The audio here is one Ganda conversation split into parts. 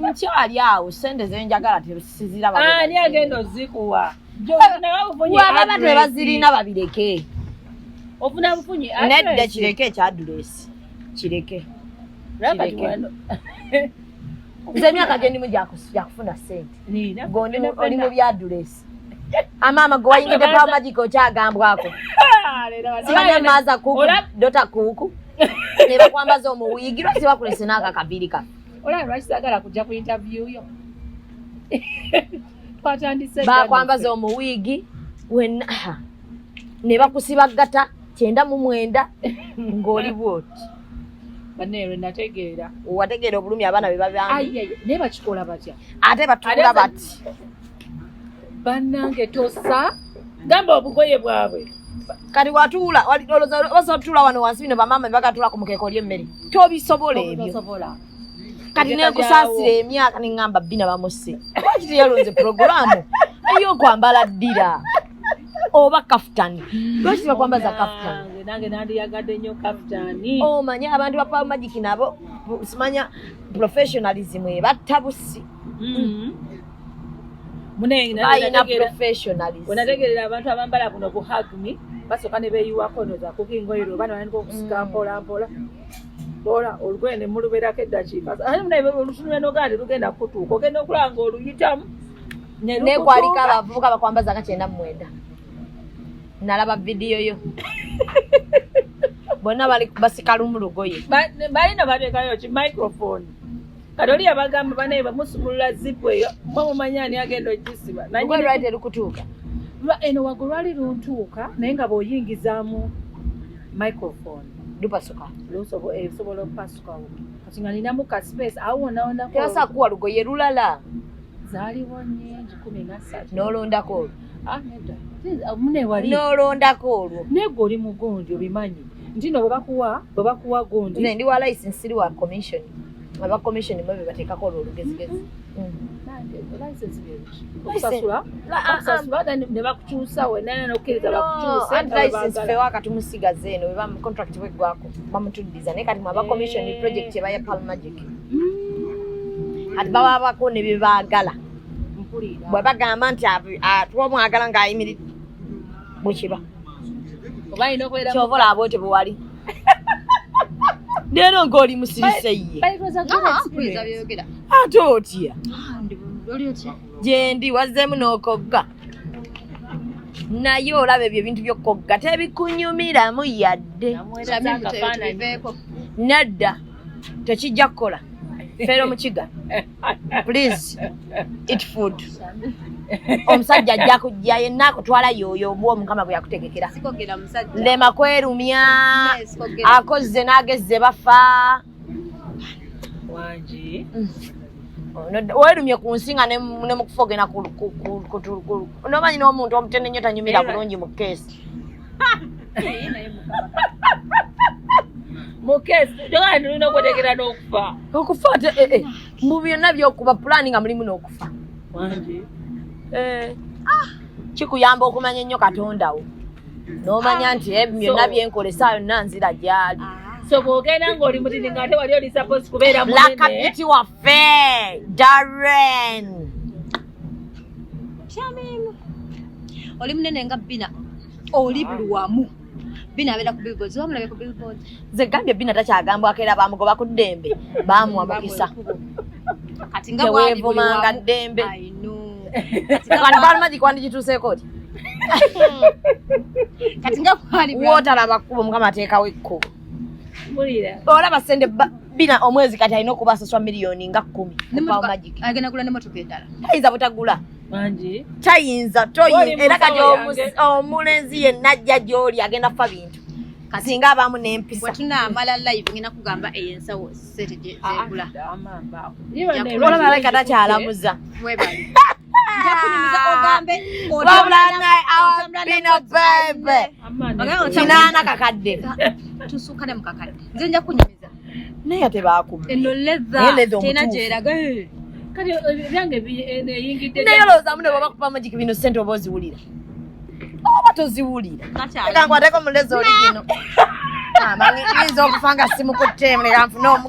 nkyali awo sente zenjagala tezirabani ah, agenda ozikuwa baba tebazirina babireke ofuna bufunyi nedda kireke ekyadulesi kireke nze emyaka gyendimu gyakufuna sente gondi oli mu byadulesi Amama gwe wayingidde pa magic okyagambwako. Sibanya maza kuku dota kuku. Ne bakwambaza omuwigi lwaki bakulese n'aka kabiri ka. Olaba lwaki saagala kujja ku interview yo. Twatandise. Bakwambaza omuwigi wenna ne bakusiba ggata kyenda mu mwenda ng'oli bwoti. banero nategeera wategeera obulumi abaana be babambi naye bakikola batya ate batula bati bannange tosa gamba obugoye bwabwe kati watuula basobola tutuula wano wansi bino bamaama bebagatuula ku mukeeka oli emmere tobisobola ebyo kati nenkusaasira emyaka neŋŋamba bbina bamusse lwaki teyalonze puroguraamu eyokwambala ddira oba kafutani lwaki tebakwambaza kafutani nange nandiyagadde nnyo kafutani omanya oh, abantu ba paul magic nabo simanya professionalism ebatta busi mm-hmm. onategerera abantu abambala buno buhagmi basooka ne beeyiwako noza kuko engoye lwe oba nalina okusika mm. mpola mpola mpola olugoye ne mulubeerako eddakiika ate munaye olutunula nogaa ne lugenda kutuuka ogenda okulaba nga oluyitamu nekwaliko abavubuka bakwambaza nga kyenda mu mwenda nalaba vidiyo yo bonna bali basikalumu lugoye balina bateekayo ki microphone kati oli yabagamba banaye bamusumulula zipu eyo mwe mumanya ani agenda ogisiba nalwalide lukutuuka eno wago lwali luntuuka naye nga bwoyingizaamu microphone lupasuka esobola eh, okupasuka kati nga ninamu ka space awo wonawonatebasakuwa lugoye lulala zaliwo nyingi kumi nasatu nolondako olwo ah, ah, nolondako olwo naye gwe oli mugundi obimanyi ntino bwebakuwa bwebakuwa gundi ndi wa license siri wa commission aba commission mwe bebateekako olwo olugezigezi waka tumusigaza eno contract bweggwako bamutuddiza naye kati mwaba commission eh. project ebaya pal magic mm. kati bababako ne byebaagala bwe bagamba nti twomwagala ng'ayimiridde bwekiba kyova olaba bwetyo bwewali leero ng'oli musirise ye ate otya gyendi wazzeemu n'okogga naye olaba ebyo ebintu byokogga tebikunyumiramu yadde nadda tekijja kukola feero mukiga please eat food omusajja ajja kujja yenna akutwala yoyo omuwa omukama bwe yakutegekera lema kwerumya akozze n'agezze bafa mm. werumye ku nsi nga ne mukufa ogenda kutunomanyi n'omuntu omutende nnyo tanyumira bulungi mu keesi mukesi jogana tulina okwetegera n'okufa okufa ate eh, eh. mu byonna byokuba pulaani nga mulimu n'okufa eh. ah. kikuyamba okumanya ennyo katonda wo n'omanya ah. nti ebyo byonna byenkola esaayo nna nzira gyali ah. so bwogenda ngaoli mutini nga ate wali oli suppose kubeera munene lakabiti waffe darren Shamim. Oli munene nga Bina. Oli buli wamu. Bina abeera ku billboards. Wa mulabe ku billboards. Ze gambye Bina takyagambwa akeera bamugoba ku ddembe. Baamuwa mukisa. Kati nga bwali buli wamu. ddembe. I know. Kati balmaji kwandi kituseeko ki? Kati nga kwali bwali. Wotalaba kubo mukama ateekawo ekkubo. olaba sente bina omwezi kati alina okuba asaswa miliyoni nga kkumi ayinza butagula tayinza era kati omulenzi yenna ajja gyoli agenda kufa bintu kasinga abamu nempisatunamala live ngenda kugamba eyo ensawo setegula ah, ah, olaba leka takyalamuza kinaana kakadde tusuka ne mukakadde nze nja kunyumiza naye ate baakuma eno leza tena gyeraga kati ebyange eyingidde naye olowoozamu ne baba kupa magiki bino sente oba oziwulira oba toziwulira kankwateko mulezi oli gino amanyi ah, yinza okufa nga simukutte mlera nfune omu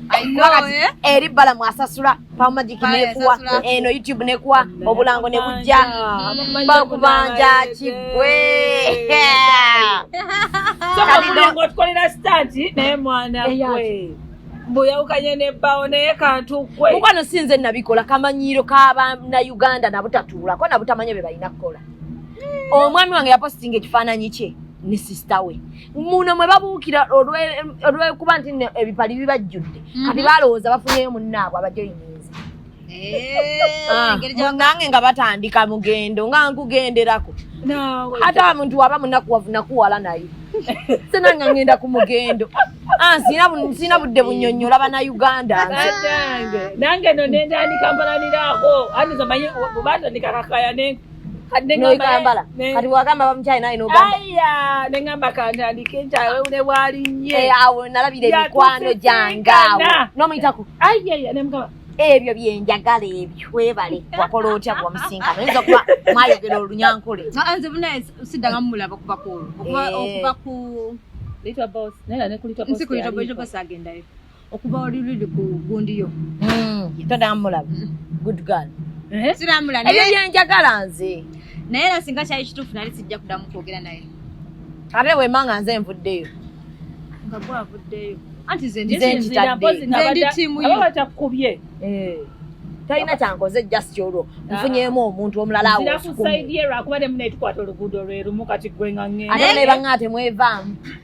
eri bala mwasasula pamagiki nekuwa eno youtube nekuwa obulango nebujja bakubanja kigwe tukolera sitati naye mwana gwe mbuyawukanye nebbawo naye kantukwe mukwano sinze nabikola kamanyiiro kabanauganda nabutatuulako nabutamanya bye balina kukola omwami wange yapositinga ekifaananyi kye ne sisita we muno mwe babuukira olwekuba nti ebipali bibajjudde mhm. kati balowooza bafunyeyo munnaabwe abajoyiniza eh, ah, nange nga batandika mugendo nga nkugenderako ate muntu waba munakuwavu nakuwala naye senanga ngenda ku mugendo ah, sina budde bunyonyola bana uganda nange no nendaandikampalaniraako andizamanyi batandika kakaya nenku noikambala kati wagamba bamukyali naye nogamba nengamba kantandike nkyawe ne bwali nye eh, awo nalabira emikwano gyange awo nomuyitaku nemugamba ebyo byenjagala ebyo webale wakola otya bwamusinkana oyinza okuba mwayogera olunyankole ah, ah, nze buna siddanga mumulaba kuva ku okuva eh. ku little boss naye nakulitwa boss agendayo okuva oli luli ku gundi yo hmm, todamulaba hmm. good girl eh? siramula ebyo byenjagala nze naye era singa kyali kituufu nali sijja kudamu kwogera naye ate wema nga nze nvuddeyo nga gwavuddeyo anti zenditaddebatakubye eh. talina kyankoze just olwo ah. nfunyemu omuntu omulala awokusaidie lwakuba temunaitukwata oluguudo lwerumu kati gwengange ate nebanga temwevaamu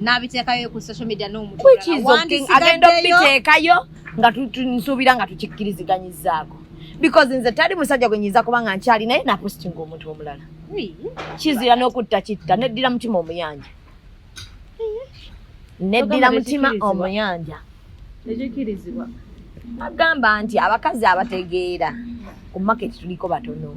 n'abiteekayo ku social media n'omutuagenda okubiteekayo nga nsuubira nga tukikkiriziganyizaako because nze tali musajja gwe nyinza kuba nga nkyali naye napostinga omuntu omulala kizira n'okutta kitta neddira mutima omuyanja neddira mutima omuyanja agamba nti abakazi abategeera ku maketi tuliko batono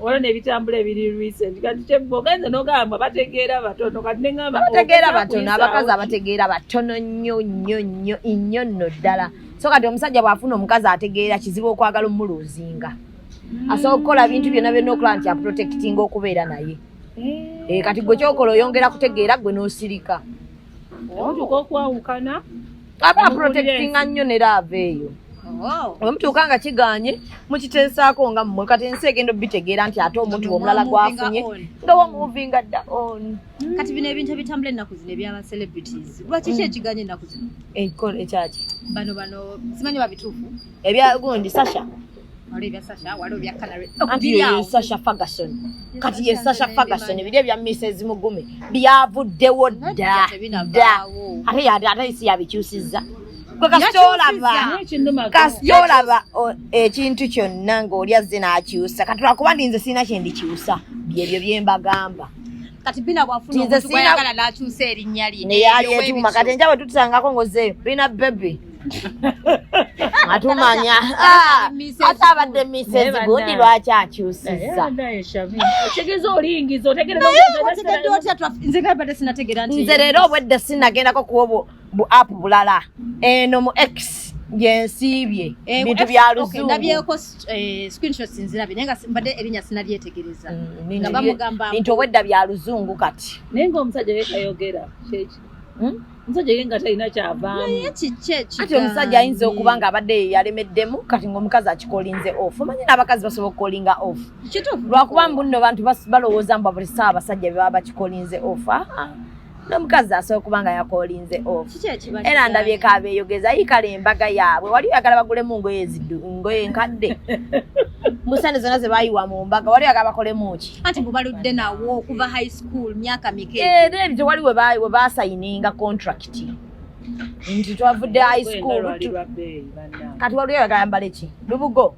olwo nebitambula ebiri recent kati kyebogenze nogamba bategeera batono kati neamba bategeera batono abakazi abategeera batono nnyo nnyo nnyo innyo nno ddala so kati omusajja bwafuna omukazi ategeera kizibu okwagala omuluuzinga mm. asobola okukola bintu byonna byonna okulaba nti aprotectinga okubeera naye eh. Eh, kati gwe kyokola oyongera kutegeera gwe nosirika omutuuka okwawukana aba protectinga nnyo ne laava eyo oh. wemutuuka nga kiganye mukiteesaako nga mmwe kati ensi egenda obitegeera nti ate omuntu omulala gwafunye nga wamuvinga dda on hmm. kati bino ebintu ebitambula ennaku zino ebyaba celebrities lwaki ki ekiganye ennaku zino ekyaki bano bano simanyi babituufu ebyagundi sasha anti ye sasha ferguson kati ye sasha ferguson ebiri ebya mrs mugume byavuddewo dda dda ate yade ate isi yabikyusizza kasitolaba ekintu kyonna ng'oli azze n'akyusa kati lwakuba ndi nze sirina kye ndikyusa byebyo bye mbagamba kati bina bwafuna omuntu gwayagala n'akyusa erinnya lye naye ali etuuma kati enjabwe tutusangako ng'ozeeyo bina bebi atumanya ah, ate abadde misezi gundi lwaki akyusizza nze leero obwedde sinagendako kuwa bu app bulala eno mu x gyensiibye eh, bintu bya luzungunabyeko eh, screenshots nzirabi naye nga mbadde erinya sinabyetegereza mm, nga bamugamba bintu obwedda bya luzungu kati naye nga omusajja yekayogera kyeki hmm? omusajja ye nga talina kyavaamuati omusajja ayinza okuba nga abadde yalemeddemu kati ngaomukazi akikolinze off omanyi n'abakazi basobola okukolinga off lwakuba mbunno bantu balowooza mbu buli saawa abasajja bebaba bakikolinze off ah, ah. nomukazi asobola okuba nga yakolinze off era ndabyeko abeyogeza yikala embaga yaabwe wali oyagala bagulemu ngoye zidu ngoye nkadde musande zona zebayiwa mu mbaga wali oyagala bakolemuki anti bubaludde nawo okuva high school school myaka mike eh then wali we bayi we basayininga contract nti twavudde high school kati waliyo yagayambala eki lubugo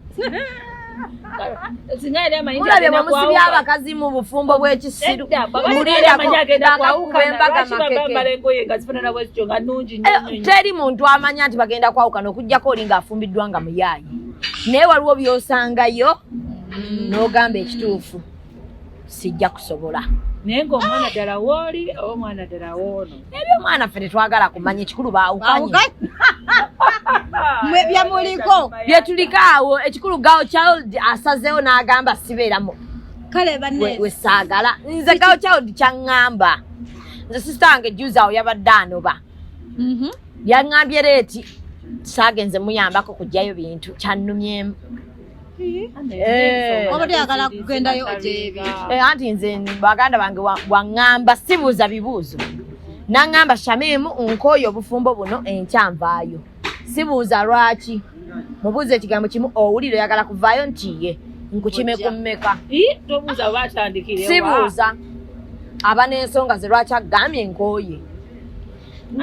mulabye mwemusibya abakazi mu bufumbo bw'ekisiru teri muntu amanya nti bagenda kwawukana okugyako oli ng'afumbiddwa nga muyaayi naye waliwo by'osangayo mm. n'ogamba ekituufu sijja kusobola naye ngaomwana ddala wooli oba omwana ddala woono ebyo omwana ffe tetwagala kumanya ekikulu baawukanye mwe byemuliko byetuliko awo ekikulu gawo child asazeewo n'agamba sibeeramu kale wesaagala nze gawo child kyaŋŋamba nze sisita wange juzi awo yabadde anoba mhm. yaŋŋambye reeti saagenze muyambako kujjayo bintu kyannumyemu Eh. obadde yagala kugendayo gyebi eh, anti nze baganda bange waŋŋamba sibuuza bibuuzo naŋŋamba shamimu nkooyo obufumbo buno enkya nvaayo sibuuza lwaki mubuuza ekigambo kimu owulire oyagala kuvaayo nti ye nkukime ku mmeka sibuuza aba n'ensonga ze lwaki agambye nkooye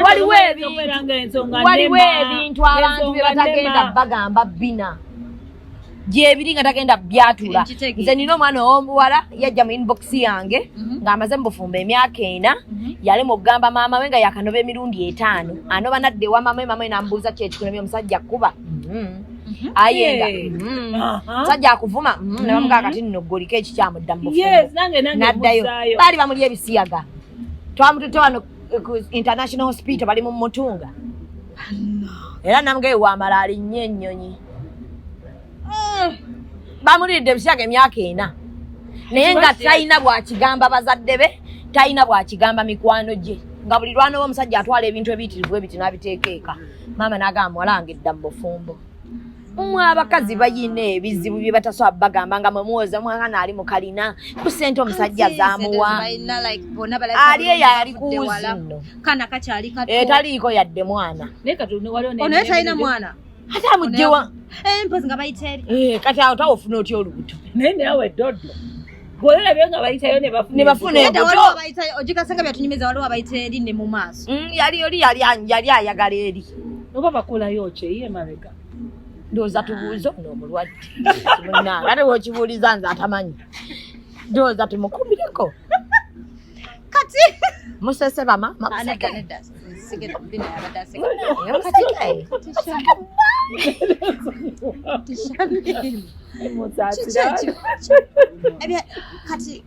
waliwo ebintuwaliwo ebintu abantu bye batagenda bagamba bina gyebiri nga tagenda byatula nze nina omwana owomuwala yajja mu inbox yange mhm. ngaamaze mubufumba emyaka ena mhm. yalema okugamba maama we nga yakanoba emirundi etaano anoba nadde ewa maama we maama we namubuuza kyekikunobi omusajja kuba mhm. ayenda musajja akuvuma nebamugaa kati nno goliko ekikyamu dda mubufumbo naddayo baali bamuli ebisiyaga twamututte wano international hospital bali mu mutunga era namugee wamala alinnye ennyonyi mm. bamuliridde ebisiyaga emyaka ena naye nga talina bwakigamba bazadde be talina bwakigamba mikwano gye nga buli lwanoba omusajja atwala ebintu ebiyitirivu ebiti nabiteeka eka maama nagamba muwala wange dda mu bufumbo mmwe abakazi bayina ebizibu bye batasobola bagamba nga mwe muwoza mwana ali mu kalina ku ssente omusajja zamuwa ali eyo ali kuwuzino etaliiko eh, yadde mwana onaye talina mwana ate amugjewa eh, mpozi nga bayiteeri eh, kati awo tawa ofuna otya olubuto naye nawe doddo gwolabye nga bayitayo nebafuna ogikasanga byatunyumiza waliwo abayita eri ne mu maaso mm, yali oli yali ayagala eri oba bakulayo ki ye mabega ndowooza tubuuze ono omulwadde munange ate wokibuuliza nze atamanyi ndowooza tumukumireko kati musese bama makuseka nedda sigera bina yabadde aseka kati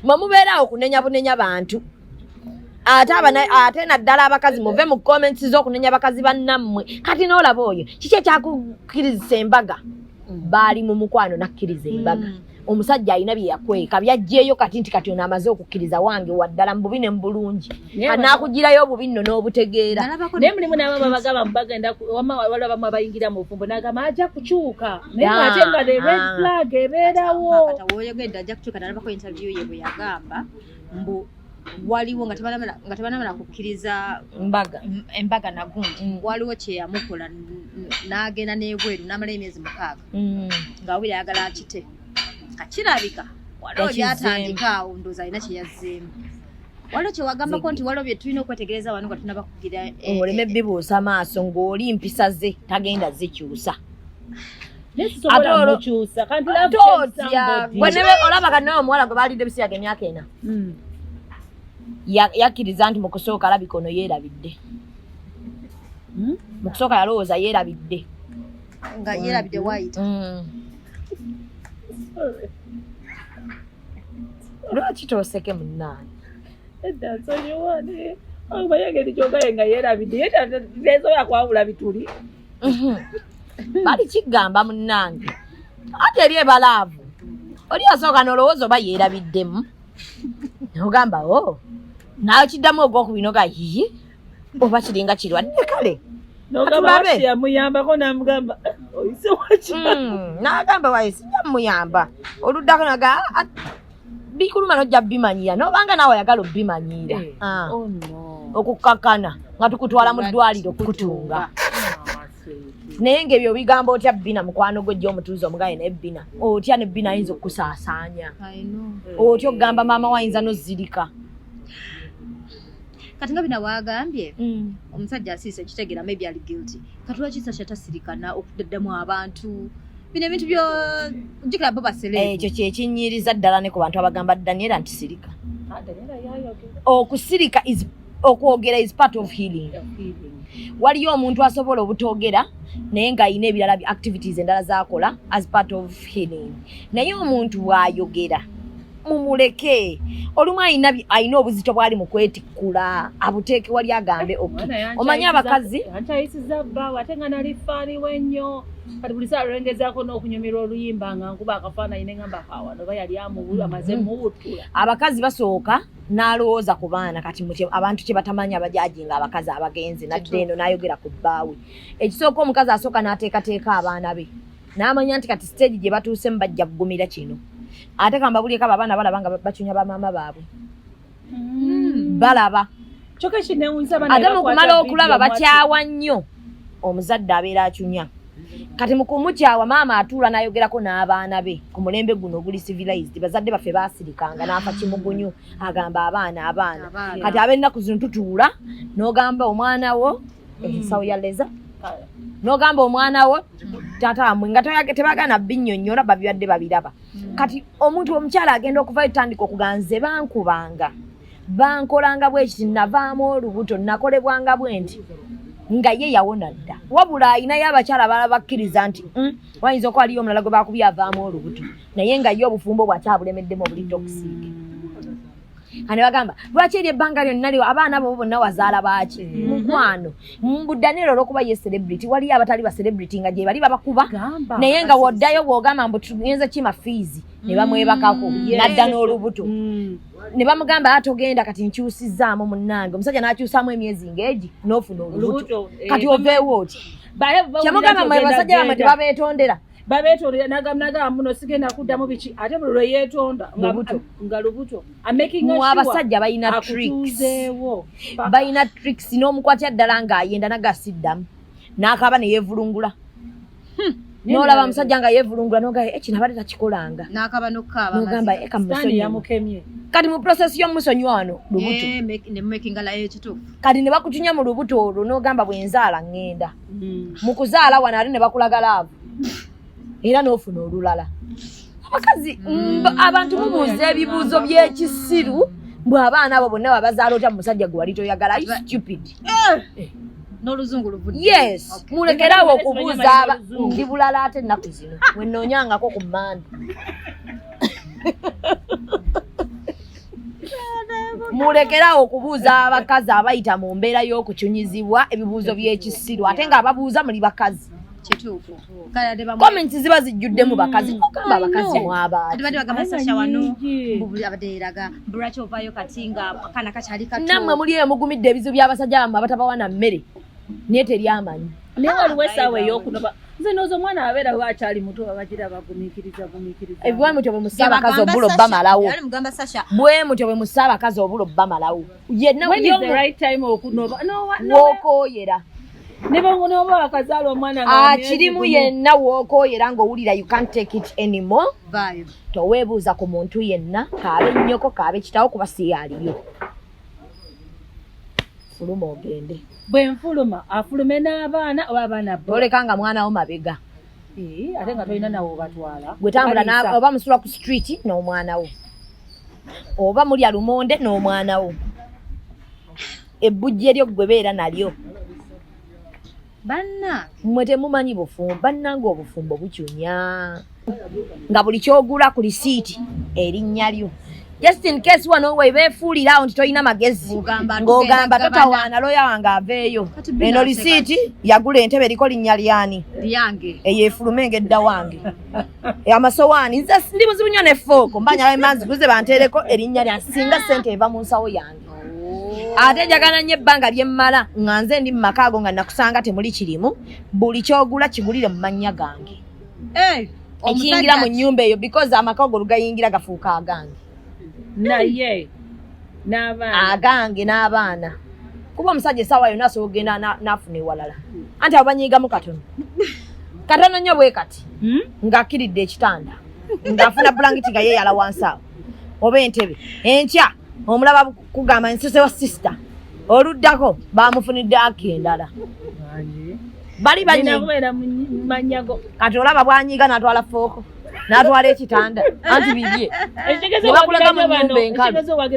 mwe mubeeraawo kunenya bunenya bantu ate abana ate naddala abakazi muve mu comments z'okunenya abakazi bannammwe kati n'olaba oyo kiki ekyakukirizisa embaga mm. baali mu mukwano nakkiriza embaga mm. omusajja alina bye yakweka byajjeeyo kati nti kati ono amaze okukkiriza wange waddala mububi ne mubulungi anaakugirayo obubi nno n'obutegeera naye mulimu naabo babagaba mubagenda wama waliwo abamu abayingira mu bufumbo nagamba ajja kukyuka naye ate nga the red ah. flag ebeerawo kata woyogedde ajja kukyuka nalabako interview ye bwe yagamba mbu waliwo nga tebanamala kukkiriza embaga nagundi mm. waliwo kyeyamukola n'agenda n'ebweru n'amala emyezi mukaaga mm. nga wabira ayagala akite kakirabika waliwo byatandika awo ndoozi alina kyeyazzeemu waliwo kyewagambako nti waliwo byetulina okwetegereza wano nga tunaba kugira eh, oleme eh, eh. bibuusa maaso ng'oli mpisa ze tagenda zikyusa olaba kati nawe omuwala gwe baalidde ebisi yage emyaka ena hmm. yakkiriza nti mukusooka alabika ono yeerabidde hmm? mukusooka yalowooza yeerabidde nga yeerabidde wayita hmm. lwaki tooseke munnaani edda nsonyiwa naye abayageri kyogaye nga yeerabidde yeesobola kwawula bituli Mhm. bali kigamba munnange ate eri ebalaavu oli asooka nolowooza oba yeerabiddemu nogamba o oh. nakiddamu ogwokubina oga yiyi oba kiringa kirwadde kale yamuyambako namugamba eh, oyise waki mm, nagamba waye sijamuyamba oluddako naga ah, ah, bikuluma nojja bimanyiira nobanga naawe oyagala obimanyiira eh, ah. oh okukkakana nga tukutwala mu ddwaliro okukutunga naye nga ebyo bigambo otya bina mukwano gwe jja omutuuza omugaye naye bina otya ne bina ayinza okukusaasaanya otya okugamba maama wayinza nozirika kati nga bina wagambye mm. omusajja asiisa ekitegera maybe ali guilty kati lwaki sasha tasirikana okudaddamu abantu bino ebintu byo jukira bo basele eh, ekyo kyekinyiriza ddala ne ku bantu abagamba daniela nti sirika ah, okusirika is okwogera is part of healing waliyo omuntu asobola obutogera naye ng'alina ebirala activities endala zakola as part of healing naye omuntu bwayogera mumuleke olumu alina alina obuzito bwali mu kwetikkula abuteeke wali agambe eh, ok omanyi abakazi akyayisiza bbaawe ate nga nali faani we nnyo kati buli saa lwengezaako n'okunyumirwa oluyimba nga nkuba akafaananyi ne ngamba kawano oba yali amuwulu amaze mm-hmm. muwuttula abakazi basooka n'alowooza ku baana kati abantu kye batamanyi abajaji nga abakazi abagenzi nadde eno n'ayogera ku bbaawe ekisooka omukazi asooka n'ateekateeka abaana be n'amanya nti kati siteegi gye batuusemu bajja kugumira kino ate kambabulyeko abo abaana balaba nga bacunya bamaama baabwe hmm. balaba ate mukumala okulaba bakyawa nnyo omuzadde abeera acunya kati mukumukyawa maama atuula nayogerako n'abaana be ku mulembe guno oguli civilized bazadde baffe basirikanga naafa kimugunyu agamba abaana abaana kati abennaku zino tutuula n'ogamba omwana wo ensawo ya leza nogamba omwana wo taata wamwe nga tebagana binyonyola babibadde babiraba mm. kati omuntu omukyala agenda okuvayo tandika okuganze bankubanga bankolanga bwekiti navaamu olubuto nakolebwanga bwenti nga ye yawona dda wabula ayinayo abakyala bala bakkiriza nti mm, wayinza okuba aliyo omulala gwe bakubyavaamu olubuto naye nga ye obufumbo bwakyabulemiddemu obulidde okusiige ane bagamba lwaki eri ebbanga lyonna lyo abaana bo bonna wazaala baaki mm-hmm. mukwano mbudaniro olwokuba ye celebrity waliyo abatali ba celebrity nga gyebali babakuba naye nga woddayo bwogamba mbu tugenza kima fiizi ne bamwebakako mm. nadda n'olubuto mm. ne bamugamba ate ah, ogenda kati nkyusizzaamu munnange omusajja n'akyusaamu emyezi ngaegi n'ofuna olubuto eh, kati oveewo oti kyemugamba mwe basajja bamwe tebabeetondera babetondera nagamba muno sigenda kuddamu biki ate buli lwe yeetonda nga lubuto abasajja balina trikseewo balina tricks n'omukwatya ddala ng'ayenda naga asiddamu n'akaaba ne yeevulungula hmm. nolaba musajja nga yevulungula nogaa eh, kino abadde takikolanga nogamba eh, kati mu prosesi yomusonyi wano lubuto eh, kati ne bakutunya mu lubuto olwo nogamba bwenzaala ngenda mm. mu kuzaala wano ali ne bakulaga laavu era n'ofuna olulala abakazi mm. abantu mubuuza ebibuuzo by'ekisiru mbu abaana abo bonna babazaala otya mu musajja gwe wali toyagala i stupid eh. Eh. n'oluzungu luvudde yes mulekere awo okubuuza ndi bulala ate ennaku zino wenoonyangako ku mmande mulekerawo okubuuza abakazi abayita mu mbeera y'okucunyizibwa ebibuuzo by'ekisiru ate nga ababuuza muli bakazi comments ziba zijjudde mu bakazi mm. okamba abakazi mwabanammwe muli eyo mugumidde ebizibu by'abasajja bammwe abatabawana mmere naye teryamanyi nze nozo omwana abeera we akyali muto babagira bagumikiriza gumikiriza eh, bwe mutyo bwe musa abakazi obulo bamalawo bwe mutyo bwe musa abakazi obulo bamalawo wokoyera akirimu ah, yenna wokoyera ngaowulira you can't take it anymore towebuuza ku muntu yenna kaabe nnyoko kaabe kitawo kuba siyaliyo fuluma ogende bwe nfuluma afulume n'abaana oba abaana boleka nga mwana wo mabega ate nga tolina nawe obatwala gwetambula oba musula ku street n'omwana wo oba mulya lumonde n'omwana wo ebbujje lyo gwebeera nalyo banna mwe temumanyi bufumbo bannanga obufumbo bucunya nga buli kyogula ku lisiiti erinnya lyo just in case wano we beefuulira awo nti tolina magezi ng'ogamba totawaana looya wange aveeyo eno lisiiti yagula entebe eriko linnya lyani eyo efuluma engedda wange amasowaani ndi muzibu nnyo ne fooko mbanyala emanzi guze banteereko erinnya lyange singa ssente eva mu nsawo yange ate njagala nnyo ebbanga lye mmala nga nze ndi mu maka ago nga nakusanga temuli kirimu buli kyogula kigulire mu mannya gange eh, ekiyingira mu nnyumba eyo because amaka ago lugayingira gafuuka agange naye agange n'abaana kuba omusajja esaawa yona asobola okugenda n'afuna ewalala anti abo banyiigamu katono katono nnyo bwe kati hmm? ng'akkiridde ekitanda ng'afuna bulangiti nga yeeyala wansi awo oba entebe enkya omulaba kugamba nsuse wa sisita oluddako bamufunidde aki endala bali banyimanyago kati olaba bwanyiga natwala fooko natwala ekitanda anti bibye nebakulaga mu nyumba enkalutaba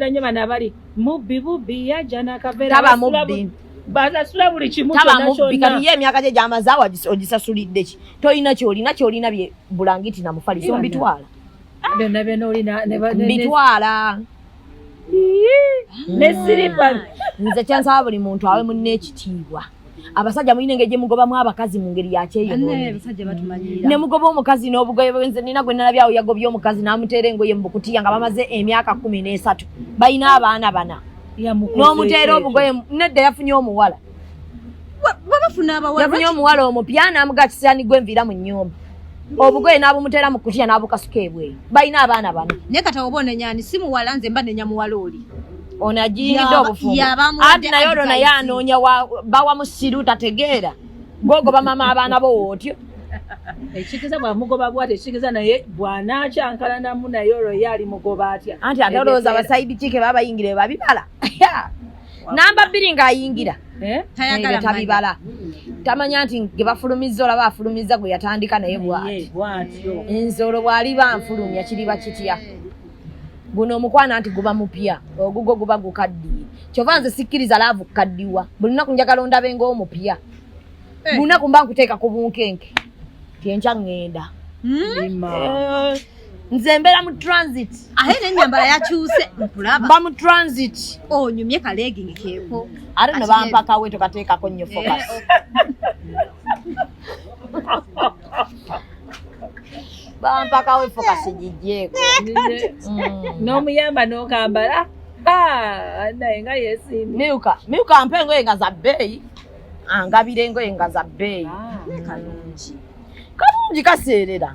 mubbi basasula buli kimu kyonakati ye emyaka gye gyamaze ogisasulidde ki tolina kyolina kyolina bye bulangiti namufaliso mbitwala byonna byonna olina bitwala ne siripa nze kyansaba buli muntu awe munne ekitiibwa abasajja mulina engeri gyemugobamu abakazi mu ngeri yakyeyoyne mugoba omukazi n'obugoye bwenze nina gwe nalabyawo yagobye omukazi n'amuteera engoye mu bukutiya nga bamaze emyaka kumi n'esatu balina abaana bana n'omuteera obugoye nedda yafunye omuwala yafunye omuwala omupya namuga kisirani gwe nviira mu nyumba obugoye n'abumuteera mu kutiya n'abukasuka ebweyi balina abaana bano naye kata oba onenyani si muwala nze mba nenya muwala oli ono ajiyingidde obufumbo ati naye olwo naye anoonya bawa musiru tategeera gwogoba mama abaana bo wootyo ekitegeeza bwamugoba bwati ekitegeeza naye bwanakyankalanamu naye olwo ye ali mugoba atya anti ate olowooza abasaidi kike babayingire babibala namba bbiri ng'ayingira eh? tayagala tabibala tamanya nti gebafulumizza olaba afulumizza gwe yatandika naye bwatyo nze olwo bwaliba nfulumya kiriba kitya guno omukwana nti guba mupya ogugwo guba gukaddiye kyova nze sikkiriza laavu kukaddiwa buli lunaku njagala ondabe ngaomupya eh. buli lunaku mba nkuteeka ku bunkenke tyenkya ŋŋenda hmm? eh. nze mbeera mu transit ahe nenyambala yakyuse nkulaba mba mu transit onyumye kalegingi keeko ate no bampakawe tokateekako nnyo eh, focus bampakawe focus gijjeeko mm. n'omuyamba n'okambala ah, naye nga yesimbi miuka miuka mpa engoye nga za bbeeyi angabira engoye nga za bbeeyi ah, kalungi kalungi kaseerera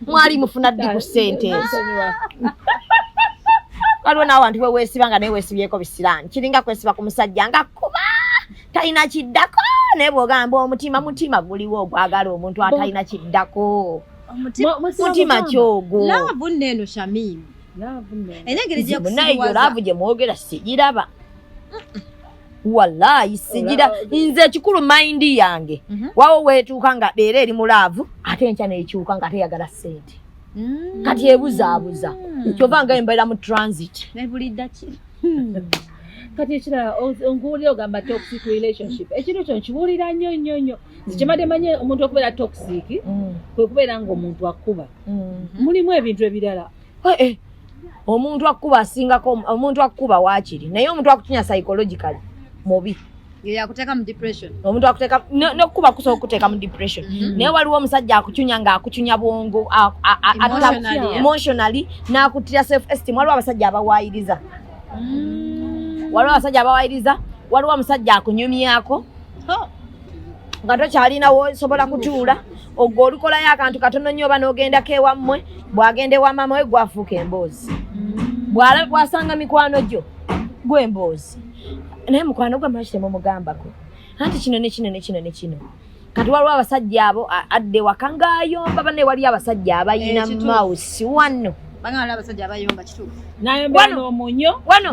mwali mufuna ddi ku ssente ezo waliwo n'abantu we weesiba nga naye weesibyeko bisiraani kiringa kwesiba ku musajja nga kuba talina kiddako naye bw'ogamba omutima mutima guliwo ogwagala omuntu atalina kiddako mutima kyogo laavu nno eno shamimu era engeri gyekusibwaza laavu gye mwogera sigiraba walayi sigira nze ekikulu mayindi yange mhm. wawo wetuuka nga era eri mu laavu ate enkya nekyuka nga teyagala sente mm. kati ebuzaabuza mm. kyova nga embeera mu transit kati ekirala onkuwulira ogamba toxic relationship ekintu kyo nkibuulira nnyo nnyo nnyo nze kyemade manye omuntu okubeera toxic mm. kwe kubeera ngaomuntu akuba mm-hmm. mulimu ebintu ebirala eh, eh. omuntu akukuba asingako omuntu akukuba wakiri naye omuntu akutinya psychologically mubi yakuteka mu depression omuntu akuteka nokukuba kusobola okuteka mu depression mm-hmm. naye waliwo omusajja akucunya nga akucunya bwongo emotionally nakutira self esteem waliwo abasajja abawayiriza mm. waliwo abasajja abawayiriza waliwo omusajja akunyumyako oh. nga tokyalinawo osobola kutuula ogwo olukolayo akantu katono nnyo oba n'ogendako ewammwe bw'agenda ewa maama we gwafuuka emboozi bwala bwasanga mikwano gyo gwe emboozi naye mukwano gwe maki temumugambako anti kino ne kino ne kino ne kino kati waliwo abasajja abo adde waka ngaayomba bane waliyo abasajja abayina eh, mausi wano wano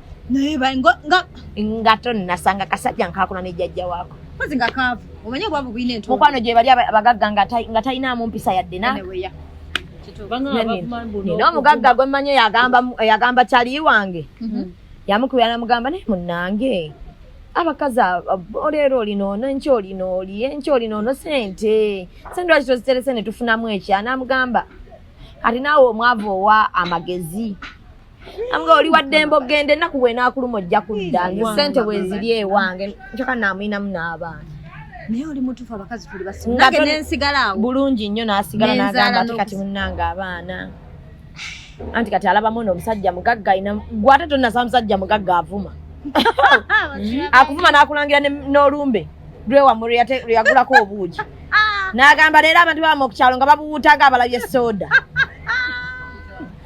naye bango nga nga tonnasanga kasajja nkakuna ne jajja wako kozi nga kavu omenye bwavu bwine ntu mukwano gye bali abagagga nga tai nga taina mu mpisa yadde na nina omugagga gwe mmanyi yagamba yagamba kyali wange mhm. yamukubira namugamba naye munnange abakazi oleero olinoono enky olinooli enky olinoono sente sente lwaki toziterese ne tufunamu ekya namugamba kati naawe omwavu owa amagezi nga oli waddembe okugenda ennaku bwenaakuluma ojja kudda nze sente bweziri ewange ncoka naamuyinamu n'abaana naye oli mutufu abakazi tuli basinage nensigalawo bulungi nnyo nasigala nagamba ati kati munange abaana anti kati alabamu no omusajja mugagga ayina gwate tonasaba musajja mugagga avuma akuvuma nakulangira n'olumbe lwewamu lweyagulako obuugi nagamba leero abantu baba mu kukyalo nga babuwuutaga abalabye sooda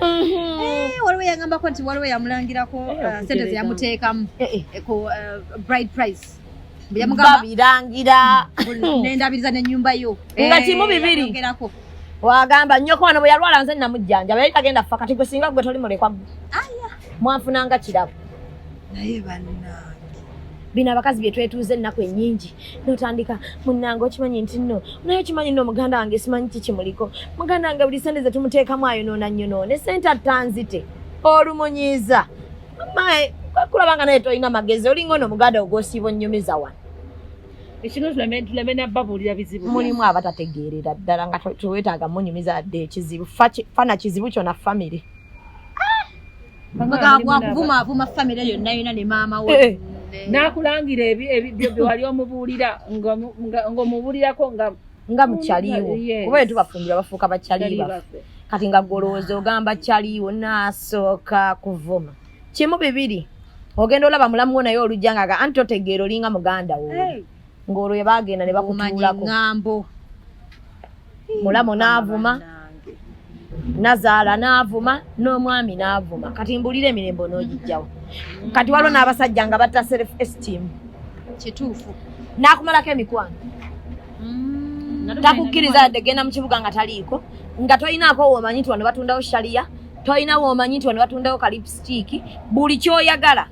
Eh, waliwo yagambako nti waliwo yamulangirako eh, uh, sente zeyamuteekamu eh, ku uh, bride price yamugambabirangira nendabiriza nenyumba yo nga kimu bibiri wagamba nyoko wano bweyalwala nze namujjanja yali tagenda fa kati gwe singa gwe toli mulekwa mwanfunanga kirabo naye banange bino abakazi byetwetuuza ennaku enyingi notandika munange okimanyi nti no naye okimanyi no muganda wange simanyi kikimuliko muganda wange buli sente zetumutekamu ayonoona nyonoone sente attanzite olumunyiiza mae kulaba nga naye tolina magezi olinga ono muganda ogwosiiba onyumiza wano mulimu abatategeerera ddala nga tewetaaga munyumiza dde ekizibu fana kizibu kyona famiry Bagabwa kuvuma avuma family yonna yonna ne maama we. Eh, eh. Nakulangira ebi ebi byo wali omubuulira nga nga omubuulirako nga nga mukyaliwo. Kuba yetu bafumbira bafuuka bakyaliwo. Kati nga golooza ogamba kyaliwo nasooka kuvuma. Kimu bibiri. Ogenda olaba mulamu wo naye olujja nga anti otegeera olinga muganda wo. Hey. ng'olwo ebaagenda ne bakutuulako ŋŋambo mulamu n'avuma nazaala n'avuma n'omwami n'avuma kati mbuulire emirembo n'ogijjawo kati waliwo n'abasajja nga batta self esteem kituufu n'akumalako emikwano mm. takukkiriza yadde genda mu kibuga nga taliiko nga tolinaako woomanyi nti wano batundawo shaliya tolina woomanyi nti wano batundawo kalipsitiiki buli kyoyagala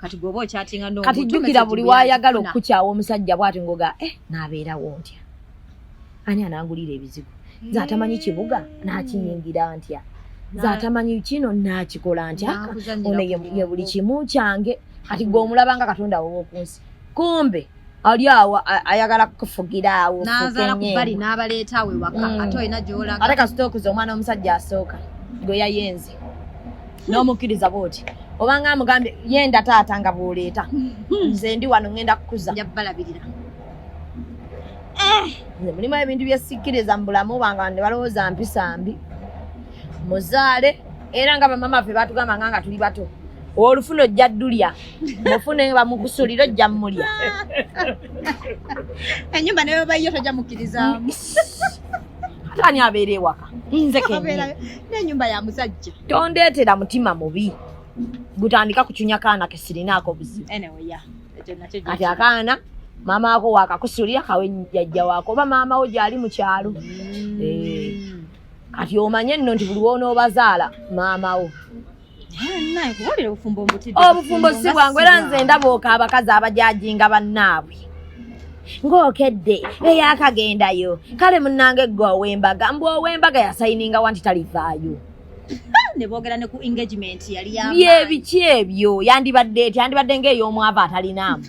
kati goba okyatinga no kati jukira buli wayagala okukyawa omusajja bwati ngoga eh nabeerawo ntya ani anangulira ebizigo nze atamanyi eh. kibuga nakiyingira ntya nze atamanyi kino nakikola ntya ono ye buli kimu kyange kati gwe omulabanga katonda wowokunsi kumbe ali awo ayagala kukufugira awo nazala kubali nabaleetawo ewaka mm. ate olina gyolaga ate kasita okuza omwana omusajja asooka gwe yayenze n'omukkiriza bwoti obanga amugambye yenda taata nga bwoleeta hmm. nze ndi wano ngenda kukuza njabalabirira eh. nze mulimu ebintu byesikkiriza mu bulamu bwange bande balowooza mpisa mbi muzaale era nga bamama ffe batugamba nga nga tuli bato olufuna ojja ddulya mufune bamukusulira ojja mulya enyumba naye bayiyo tojja mukkirizamu atani abeera ewaka nze kenenyumba ya musajja tondeetera mutima mubi gutandika kucunya kaana kesirinaako buzibu kati akaana maama wako wakakusulira kawe jajja wako oba maama wo gyali mu kyalo mm. eh. kati omanye nno nti buli wonoobazaala maama wo obufumbo si bwangu era nze ndaba oka abakazi abajajinga bannaabwe ng'okedde eyakagendayo kale munnange ggwe ow'embaga mbu ow'embaga yasayininga wa nti talivaayo nebogera ne ku engagement yali yebiki ebyo yandibadde eti yandibadde ng'ey'omwava atalinaamu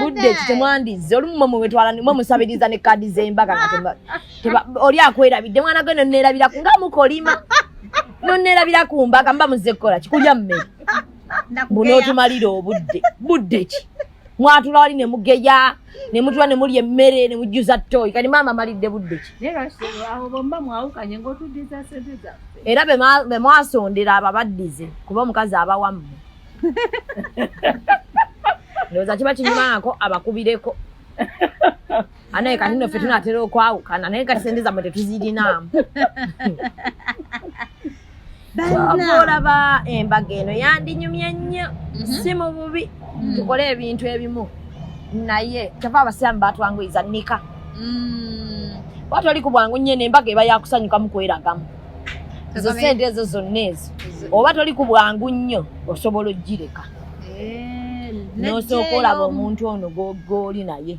budde ki temwandizze olumu mwe mubetwala mwe musabiriza ne kaadi z'embaga nga oli akwerabidde mwana gwe noneerabiraku nga mukolima noneerabira ku mbaga mba muzze kukola kikulya mmere bunotumalira obudde budde ki mwatula wali ne mugeya ne mutula ne mulya emmere ne mujjuza toyi kati maama amalidde budde ki era be mwasondera abo abaddize kuba omukazi abawamu ndowooza kiba kinyumaako abakubireko anaye kati nno ffe tunatera okwawukana naye kati sente zammwe tetuzirinaamu olaba embaga eno yandinyumye nnyo mhm. si mu bubi mhm. tukole ebintu ebimu naye kyava abasiraamu batwanguyiza nika mm. wati oli ku bwangu nyene embaga eba yakusanyukamu kweragamu ezo sente ezo zonna ezo oba toli ku bwangu nnyo osobola okugireka eh, nosooka olaba omuntu ono goli naye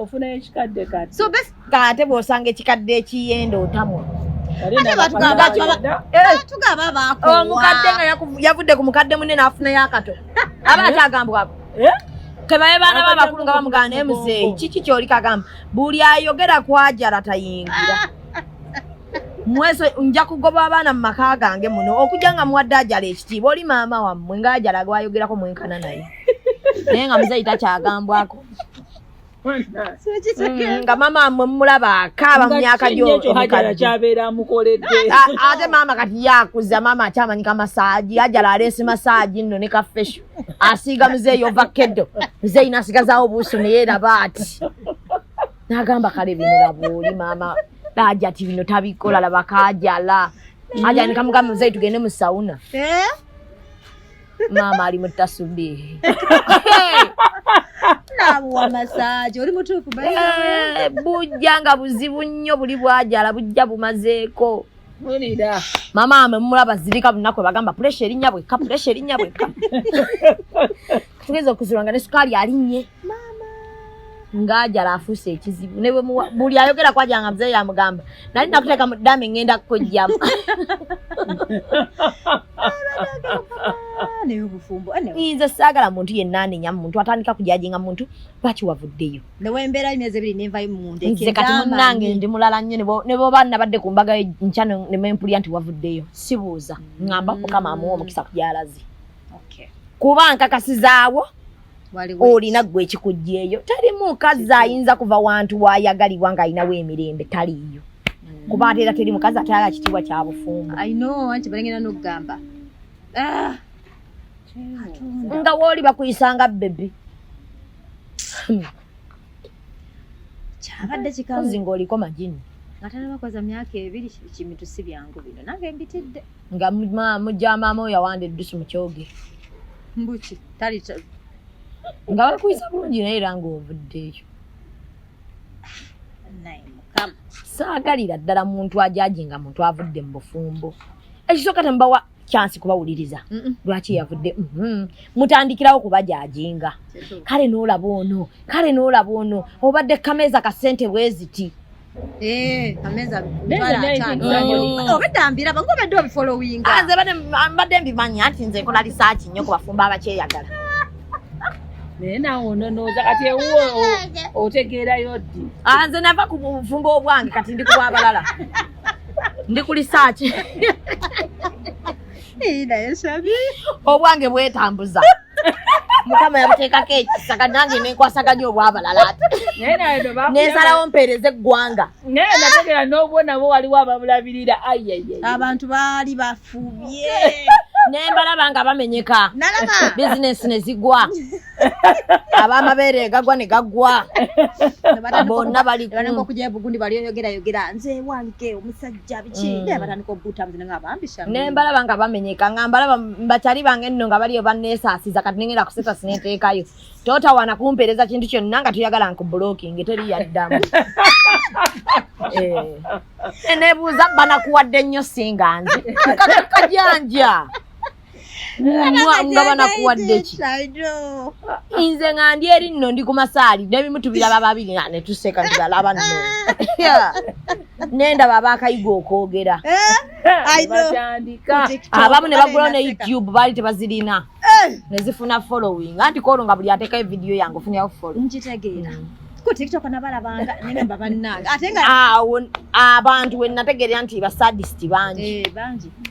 ofuna ekikadde kati so bes kate bwosanga ekikadde ekiyenda otamwa omukadde nga yavudde ku mukadde munene afuna yakato aba akyagambwako eh? kebaye baana ba bakulu nga bamugana naye muzeeyi kiki kyoli kagamba buli ayogera kwajala tayingira mweso nja kugoba abaana mu maka gange muno okujja nga muwadde ajala ekitiibwa oli maama wammwe nga ajala gwayogerako mwenkana naye naye nga muzeeyi takyagambwako Mm, nga mama mwe mulaba akaaba mu myaka gyoate mama kati yakuza mama akyamanyi ka masaaji ajala aleese masaaji nno ne kafesho asiiga muzeeyi ova keddo muzeeyi nasigazawo obuuso neyeraba ati nagamba kale bino labuuli mama laja ti bino tabikola labakajala ajanika mugamba muzeeyi tugende mu sauna eh? maama ali mutasubiri nabuwa masaje oli mutuufu eh, bujja nga buzibu nnyo buli bwajala bujja bumazeeko mulira mama mwe mulaba zirika lunaku bagamba puresha erinnya bwekka puresha erinnya bwekka tugeza okuzirwa nga ne sukaali alinnye ng'ajala afuuse ekizibu ne buli ayogera kwaja nga mzee yamugamba nali nakuteeka mu dame ngenda kukojjamu nze saagala muntu yenna anenya mu muntu atandika kujajinga mu muntu lwaki wavuddeyo nze kati munnange ndi mulala nnyo ne boba nabadde ku mbaga nkya nemempulira nti wavuddeyo sibuuza ngamba mukama amuwa omukisa kugyalazi kuba nkakasizaawo olina gwe ekikugyeyo teri mukazi ayinza kuva wantu wayagalibwa nga alinawo emirembe taliiyo mm. kuba ate era teri mukazi ate ala kitiibwa kya bufumbo ah. nga wooli bakuyisanga bebi kyabadde kikazi ngaoliko majini nga tanabakoza myaka ebiri kimitu si byangu bino nange mbitidde nga mujamaama oyo awanda eddusu mukyoge mbuki tali nga bakuyisa bulungi naye era ngaovuddeeyo saagalira ddala muntu ajaji nga muntu avudde mu bufumbo ekisooka temubawa kyansi kubawuliriza lwaki yavudde mm-hmm. mutandikirawo kubajajinga kale noolaba ono kale noolaba ono obadde kameeza kasente bweziti obedambira bange obadde obifolowinga nze mbadde mbimanyi anti nze nkola lisaaki nnyo ku bafumba abakyeyagala naye nawe ononooza kati ewuwo otegeerayo ddi nze nava ku bufumba obwange kati ndi kuba abalala ndi ku lisaaki naye sabi obwange bwetambuza mukama yabuteekako ekisa kati nange nenkwasaganya obwabalala ati nensalawo mpeereza eggwanga naye nategera n'obwo nabo waliwo ababulabirira ayeye abantu baali bafubye nembalaba nga bamenyeka bizinesi ne zigwa abamabeere gagwa ne gaggwa bonna balikujebugundi balioyogerayogera nze wange omusajja jabiki mm. ne batandika okubuuta muzina nga bambi sha ne mbalaba nga bamenyeka nga mbalaba mbatali bange nno nga baliyo banneesaasiza kati nengenda kuseta sineteekayo totawaana kumpeereza kintu kyonna nga tuyagala nkublocking teri yaddamu eh. nebuuza banakuwadde nnyo singa nze kakakajanja nga banakuwadde ki nze nga ndi eri nno ndi ku masaali nebimu tubiraba babiri nga netuseka ntibalaba nno nendaba abakayiga okwogera eh? abamu ne bagulawo ne youtube baali tebazirina eh! nezifuna following anti koolo nga buli atekayo vidiyo yange ofunyawo follow nkitegeera mm. ku tiktok nabalabanga nene mba bannange ate nga awo abantu wenategeera nti basadist bangi eh, bangi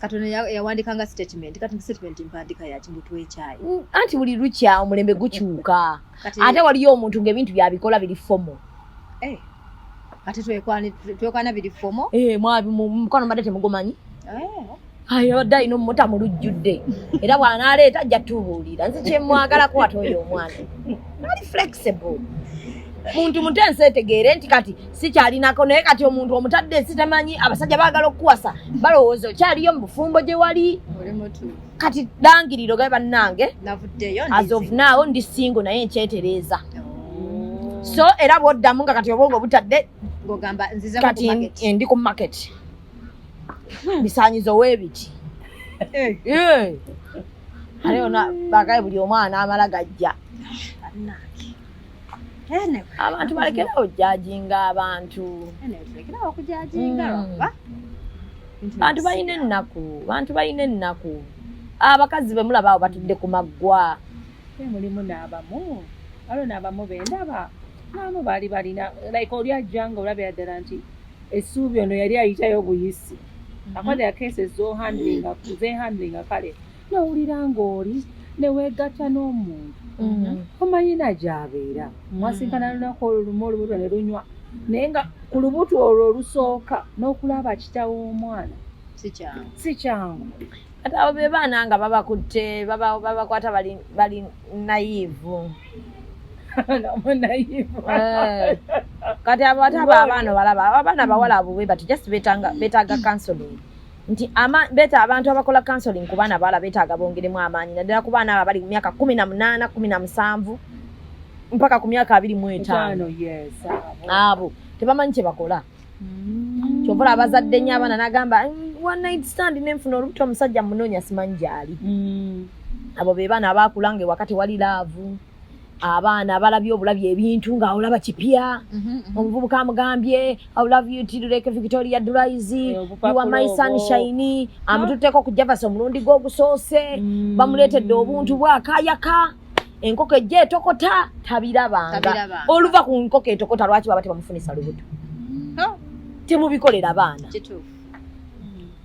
kati ono yawandikanga statement kati statement mpandiika yaki mbu twekyayi mm, anti buli lukya omulembe gukyuka ate waliyo omuntu ngaebintu byabikola biri fomo eh, ate twekwana biri fomo eh, mukwano mbadde temugumanyi eh. abadde alina omumota mu lujjudde era bwanaaleeta ajja tubuulira nze kyemwagalako ate oyo omwana ali flexible muntu mutu ensi etegeere nti kati sikyalinako naye kati omuntu omutadde ensi tamanyi abasajja baagala okukuwasa balowooza okyaliyo mu bufumbo gye wali kati langiriro gae bannange azovnaawo ndi singo naye nkyetereeza oh. so era bwoddamu nga kati obwongo obutadde kati ndi ku market hmm. bisanyizo webiti eh. eh. aleona bagae buli omwana amala gajja abantu balekera okujajinga abantu hmm. bantu balina ennaku bantu balina ennaku abakazi be mulaba awo batudde ku maggwa mulimu n'abamu waliwo n'abamu be ndaba n'abamu baali balina like oli ajja nga olabira ddala nti essuubi ono yali ayitayo obuyisi hmm. akwade akeese zohandlinga zehandlinga kale nowulira ng'oli neweegatta n'omuntu mm-hmm. omayina gyabeera mm-hmm. mwasinkana lunaku olwo lumu olubuto ne lunywa naye nga ku lubuto olwo olusooka n'okulaba kitawo omwana si kyangu ate abo be baana nga babakutte babakwata bali nayivu Eh. kati abo ate abo abaana obalaba abaana bawala abo webati just betaga counseling nti ama beta abantu abakola counseling ku baana bala betaaga bongeremu amaanyi naddala ku baana abo abali mu myaka kumi na munaana kumi na musanvu mpaka ku myaka abiri mu etaano abo tebamanyi kye bakola mm. kyova ola abazadde nyo abaana nagamba mm, one night stand nenfuna olubuto omusajja munoonya simanyi gyali mm. abo be baana abaakula nga ewakati wali laavu abaana balabye obulabye ebintu nga olaba kipya mhm, mhm. omuvubuka amugambye iloveyutiluleke victoria dulaizi iwa my sunshine amututteko ku javasi omulundi gwe ogusoose mm. bamuleetedde obuntu bwakayaka enkoko ejja etokota tabirabanga oluva ku nkoko etokota lwaki baba tebamufunisa lubuto mm. temubikolera abaana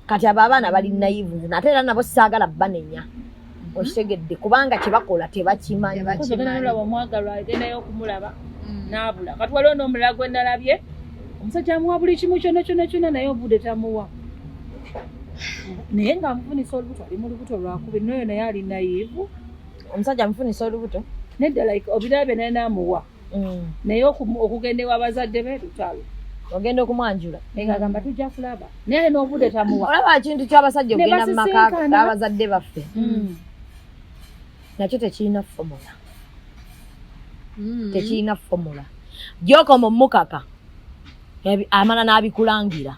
kati abo abaana bali naivu ate era nabo saagala banenya mm-hmm. okitegedde kubanga kyebakola tebakimanyiolaba omwagalwa agendayo okumulaba mm. nabula kati waliwo nomulala gwe nalabye omusajja amuwa buli kimu kyona kyona kyona naye obude tamuwa naye nga amufunisa olubuto ali mu lubuto lwakubi noyo naye ali nayivu omusajja amufunisa olubuto nedda like obirabye naye namuwa mm. naye okugenda ewa bazadde be lutalo ogenda okumwanjula nga agamba tujja kulaba naye n'obude tamuwa olaba kintu ky'abasajja okugenda mu maka abazadde baffe mm. nakyo tekirina fomula mm. tekirina fomula gyokoma omukaka amala n'abikulangira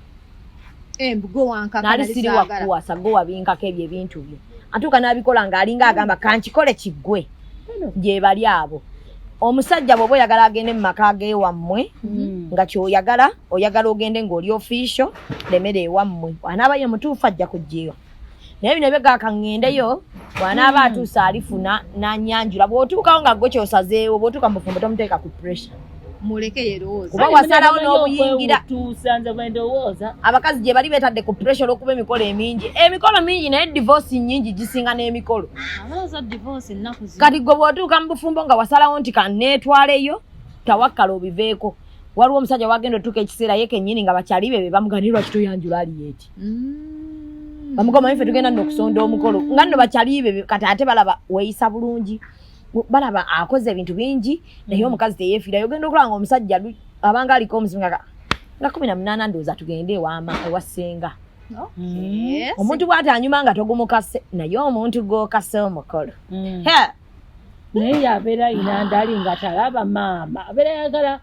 nali siri wakuwasa gwe wabinkako ebyo ebintu bye atuuka n'abikola ng'alinga agamba kankikole kiggwe gyebali abo omusajja bwoba oyagala agende mu maka gewammwe mm. nga kyoyagala oyagala ogende ng'oli ofisho lemera ewammwe anaaba ye mutuufu ajja kujjeyo naye bino byega kaŋŋendeyo bw'anaaba hmm. atuuse alifuna n'anyanjula bw'otuukawo nga gwe kyosazeewo bw'otuuka mu bufumbo tomuteeka ku pressure muleke yerowooza kuba wasalawo n'obuyingira abakazi gye bali betadde ku pressure olw'okuba emikolo emingi emikolo mingi naye divorce nyingi gisinga n'emikolo kati gwe bw'otuuka mu bufumbo nga wasalawo nti kaneetwaleyo tawakkala obiveeko waliwo omusajja wagenda otuuka ekiseera ye kenyini nga bakyali bebe bamuganirwa kitoyanjula ali eti mm. bamugoma ife tugenda no kusonda omukolo nga no bachalibe kati ate balaba weisa bulungi balaba akoze ebintu bingi naye mm. omukazi teyefira yogenda okulanga omusajja abanga aliko omuzinga nga 18 ndoza tugende ewama ewasenga mm. omuntu bwati anyuma nga togumukase naye omuntu gokase omukolo mm. naye yabeera inandali nga talaba maama abeera yagala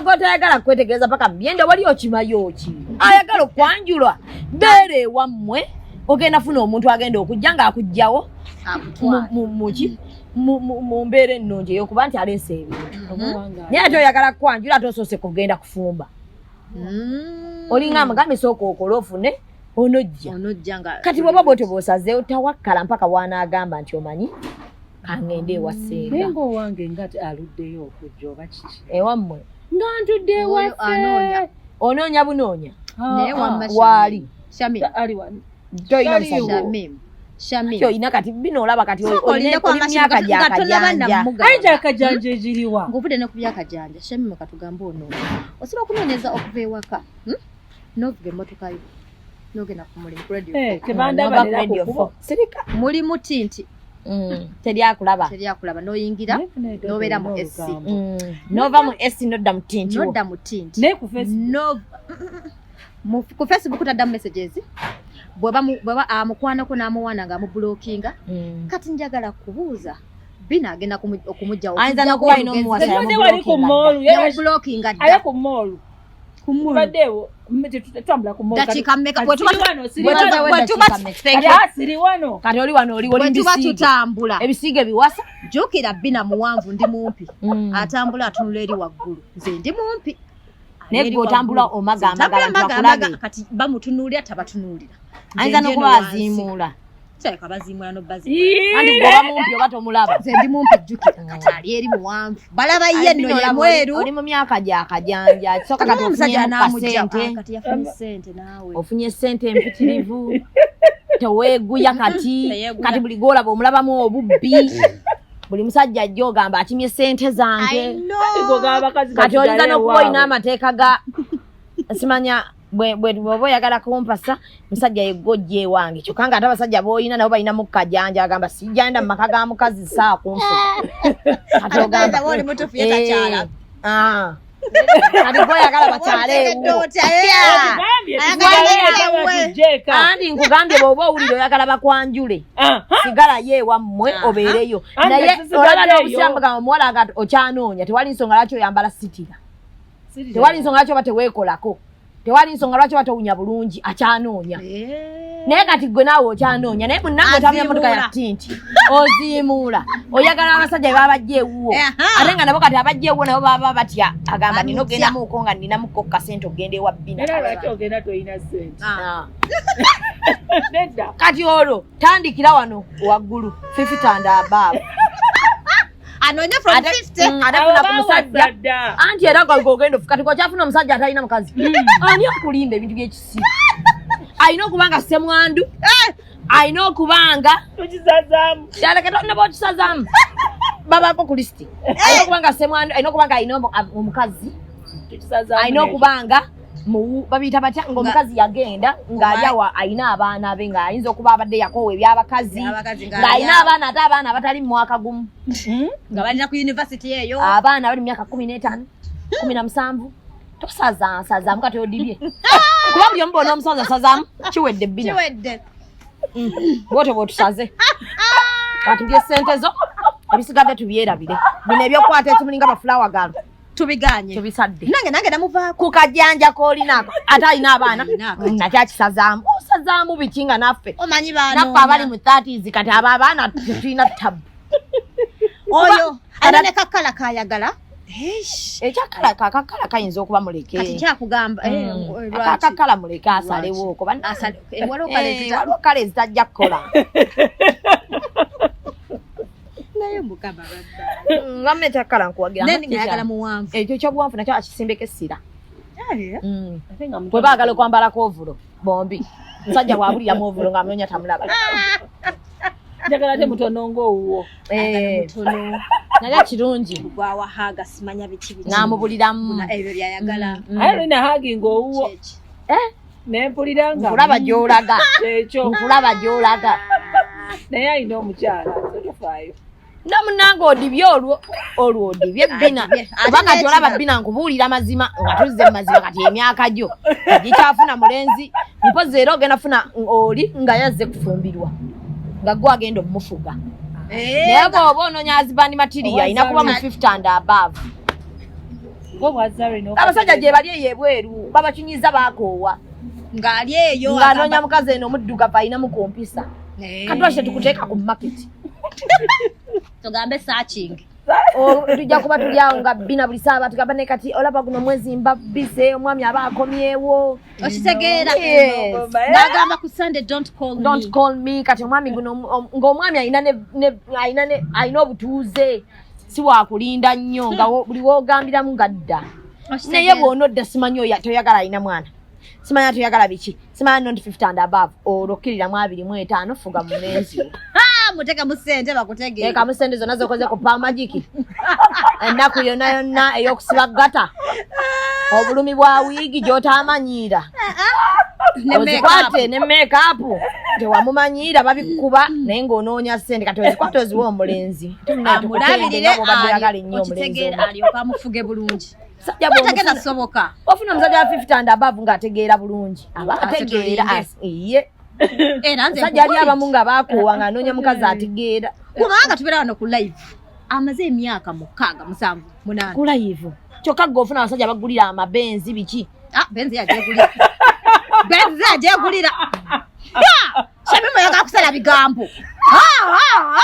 gotayagala kukwetegereza paka muyende wali okimayoki ayagala okwanjulwa beera ewammwe ogenda funa omuntu agenda okujja ngaakujjawo muki mu mbeera ennungi eyokuba nti aleesa ebintu mhm. naye ate oyagala kukwanjula ate osoose kugenda kufumba mm. olinga amugambisa okookola ofune onojja onojja nga kati bwaba bwotyo bwosazeewo tawakkala mpaka wanaagamba nti omanyi kangende ewasinga naye ngaowange nga aluddeyo okujja oba kiki ewammwe nga ntudde ewaanoonya onoonya bunoonya ah, naye ah. wamma waali olina kati bino olaba kati olinamyaka gyakajanja egiriwa ngaovudde ne ku byakajanja shamimu katugambe onoonya osobola okunoonyeza okuva ewaka hmm? novuga emmotoka yo nogenda ku mulimu kuradioserika eh, muli muti nti mm, teryakulaba teryakulaba noyingira nobeera mu s mm. nova mu s nodda mu tinti nodda mu tinti ku facebook taddamu messages bweba amukwanako n'amuwaana nga amubulokinga mm. kati njagala kubuuza bino agenda okumugyawo ayinza nokuba alina omuwasa yamubulokinga dda tubaddeewo tetutambula kudakiika mmeka bwetuba kati oli wano oli olimbisiige tutambula ebisiige biwasa jjukira bbina muwanvu ndi mumpi mm. atambula atunula eri waggulu nze ndi mumpi naye gwe otambula omagambagala kati bamutunuulira tabatunulira ayinza nokuba aziimuula kyaleka baziimula nobazianti bwoba mumpi oba tomulaba nze ndi mumpi jjukira kati ali eri muwanvu balaba ye nno ye mweru oli mu myaka gya kajanja kisoka kati omusajja namujjate kati yafunye sente naawe ofunye sente empitirivu teweeguya kati kati buli gwolaba omulabamu obubbi buli musajja ajja ogamba akimye sente zange kati oyinza nokuba olina amateeka ga simanya bwoba oyagala kumpasa musajja yegojja ewange kyokka nga ate abasajja boolina nabo balina mukkajanja agamba sijanda mu maka ga mukazi saa kunfu aligwayagala bakyaleewoandi nkugambye bwoba owulire oyagala bakwanjule sigala ye ewammwe obeereyo naye olaba nobusiramugamba omuwala nga okyanoonya tewali nsonga lwaki oyambala sitira tewali nsonga lwaki oba teweekolako tewali nsonga lwaki oba towunya bulungi akyanoonya eh. naye kati gwe naawe okyanoonya naye munange otamya motoka ya tinti oziimuula oyagala abasajja be babajja ewuwo ate nga nabo kati abajja ewuwo nabo baba batya agamba nina ogendamuko nga ninamuko ku kasente ogenda ewa bbina kati olwo tandikira wano waggulu fifitanda abaabu anonye from 50 mm, atafuna ku musajja anti era ogenda ofuka tiko kyafuna omusajja atalina mukazi mm. ani okulinda ebintu byekisiru alina okuba nga semwandu eh! alina okuba nga yaleketnaba okisazaamu babako ku lisiti eh! alina okuba nga semwandu alina okuba nga alina omukazi alina okuba nga babiyita batya ngaomukazi yagenda ng'ali awa alina abaana be ng'ayinza okuba abadde yakoowa ebyabakazi ng'alina abaana ate abaana abatali mu mwaka gumu hmm? nga balina ku univesity eyo abaana bali mu myaka kumi n'etaano kumi na musanvu tosazaansazaamu kati odibye kuba buli omu bona omusazi asazaamu kiwedde bbina hmm. bwotyo bwotusaze katubye sente zo ebisigadde tubyerabire bino ebyokukwata ekimulinga bafulawa galo tubiganye tubisadde nange nange namuvaako ku kajanja k'olinaako ate alina abaana nakyo akisazaamu osazaamu biki nga naffe omanyi banaffe abali mu thirties kati abo abaana tulina tabu oyo alina ne kakkala kayagala ekyakala kakakala kayinza okuba mulekekyakugamba eh, mm. eh, kakakala muleke asalewooko banasale eh, waliwo kale zitajja kukola naye mukama nga mune takkala nkuwagirayagala muwanvu ekyo kyobuwanvu nakyo akisimbeko essira bwe baagala okwambalako ovulo bombi musajja bwabuliramu ovulo nga munonya tamulaba njagala te mutono ngaowuwo eh. naye kirungi gwawahaga simanya biki namubuliramu ebyo byayagala mm, mm. aye lina hagi ngaowuwo eh? naye mpulira nga nkulaba gy'olaga ekyo nkulaba gy'olaga naye alina omukyala tofaayo no munange odibye olwo olwo odibye bina kubanga ti olaba bina nkubuulira mazima nga tuzze mu mazima kati emyaka gyo gikyafuna mulenzi mpozi era ogenda funa oli nga yazze kufumbirwa nga gwe agenda omumufuga eh, naye gwe oba ononya azibandi matiriya ayina kuba mu 50 and above abasajja gyebali eyo ebweru babakinyiza bakoowa ngaali eyo ngaanoonya mukazi eno omuddugavu alinamu ku mpisa eh. katwakye tukuteeka ku market tugambe searching tujja kuba tuli awo nga bina buli saaba tugamba ne kati olaba guno mwezi mbabise omwami aba akomyewo okitegeera nagamba ku sunday don't call don't call me kati omwami guno ng'omwami alina alina obutuuze si wakulinda nnyo nga buli wogambiramu nga dda naye bwona odda simanyi oyo toyagala alina mwana simanya toyagala biki simanya nonti fift and above olwo kkiriramu abiri mu etaano fuga mu menzi muteka musente bakutege eka musente zona zokoze ku pamajiki ennaku yona yonna eyokusiba gata obulumi bwa wiigi gyotamanyiira ah, ah. ozikwate ne mekapu tewamumanyiira babikuba naye ngaonoonya sente kati ozikwate oziwa omulenzi amulabirire okitegeera alyoka amufuge bulungi sagenda kusoboka ofuna omusajja wa fifty and above nga ategeera bulungi aba ategeera iye sajja ali abamu nga bakoowa nga anoonya mukazi ategeera kubanga tubeera wano ku live amaze emyaka mukaaga musanvu munaana ku live kyokka gwe ofuna abasajja bagulira amabenzi biki ah, benzi yajegulira benzi yajegulira Shami mwe yaka kusala bigambo. Ha ha.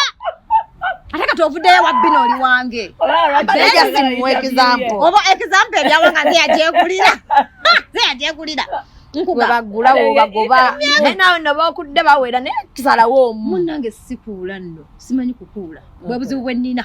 Ate kati ovuddeyo wa bino oli wange. Abeja simu example. Obo example ya wanga nze yajekulira. Nze yajekulira. Nkuga bagula wo bagoba. Naye nawe no bakudde bawera ne kisalawo omu. Munange sikuula nno. Simanyi kukuula. Bwe buzibu bwe nina.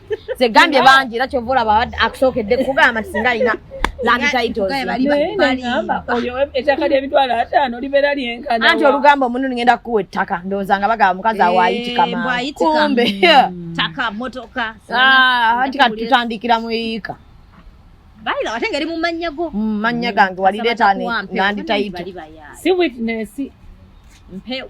zegambye bangi era kyova olaba abadde akusookedde kugamba nti singa alina anti olugamba omuntu ngenda kukuwa ettaka ndowooza nga bagaba mukazi awaayitikamakumbe anti katutandikira mu yiika bayira ate ngeri mu mannya go mm, mannya gange walireeta nanditayito si witness mpewo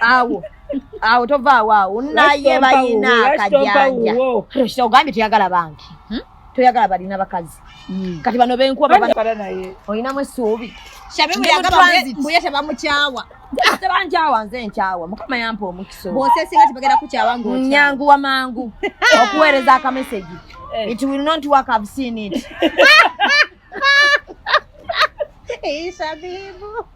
awo awo tovaawo awo naye balina akajanja kino kita ogambye toyagala banki hmm? toyagala balina bakazi hmm. kati bano benkuba olinamu esuubi mbuye tebamukyawa tebankyawa nze nkyawa mukama yampa omukisa bosesinga tebagenda kukyawa nyangu wamangu okuweereza akamesegi eh. it will not work i've seen it Hey, Shabibu.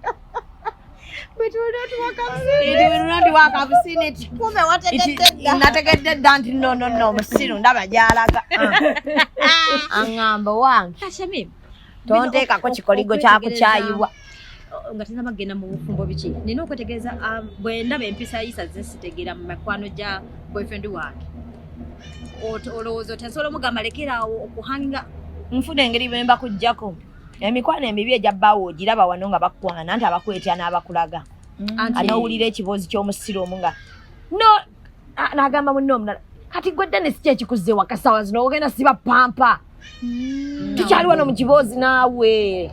But we don't work up seen it. We don't work up seen it. Kumbe wategedde. Nategedde dda nti no no no musiru ndaba gyalaga. Angamba wange. Kashamim. Tonteekako kikoligo kya kukyayibwa. nga tezaba kugenda mu bufumbo biki nina okwetegereza ah, bwe ndaba empisa yisa zesitegeera mu mikwano gya boyfriend wange olowooza oti nsobola omugamba lekeraawo okuhanga nfuna engeri bwe mba kujjako emikwano emibi egya bbaawo ogiraba wano nga bakwana nti abakwetya n'abakulaga mm. anowulira ekiboozi ky'omusiru omu nga no n'agamba munne omulala kati gwe dennis ki ekikuzza ewaka saawa zino ogenda siba pampa hmm. tukyali wano mu kiboozi naawe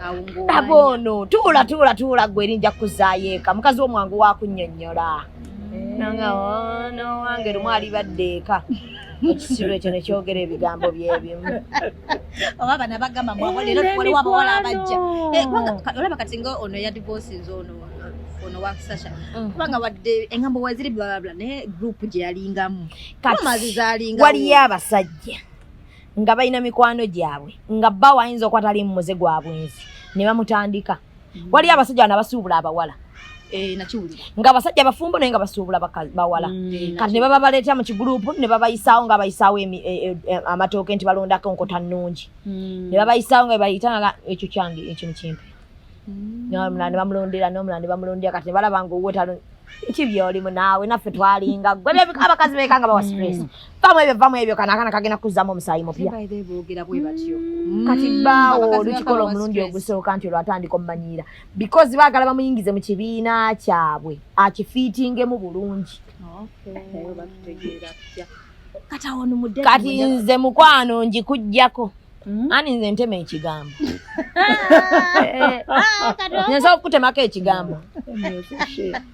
laba ono tuula tuula tuula gwe eri nja kukuzaayo eka mukazi womwangu wakunnyonnyola hmm. nanga ono wange lumu alibadde eka ekisiru ekyo nekyogera ebigambo byebimu oba bana bagamba mwabo leero waliwo abawala abajja eh, olaba kati nga ono yadivosinze ono ono wakisasha mm. kubanga wadde engambo waziri blablabla naye group gye yalingamu kamazi zalinga waliyo abasajja nga balina mikwano gyabwe nga bba wayinza okuba tali mumuze gwa bwenzi ne bamutandika mm. waliyo abasajja bana basuubula abawala eh, nga abasajja abafumbo naye nga basuubula bawala mm. kati ne baba baleeta mu kigulupu ne babayisaawo nga bayisaawo e, e, e, amatooke nti balondako nkota nnungi ne babayisaawo nga bebayita nga ekyo kyange ekintu kimpi nomulala ne bamulondera nomulala ne bamulondera kati nebalaba nga owuwe talon ki byolimu naawe naffe twalinga gwe byebika abakazi beeka nga bawa stress mm. vamu ebyo vamu ebyo kana akana kagenda kuzzamu omusaayi mupya kati mm. baawo olukikola omulundi ogusooka nti olwatandika omumanyiira because baagala bamuyingize mu kibiina kyabwe akifiitingemu bulungi kati nze mukwano ngikujjako Mm-hmm. ani nze ntema ekigambo nyensobola okukutemako ekigambo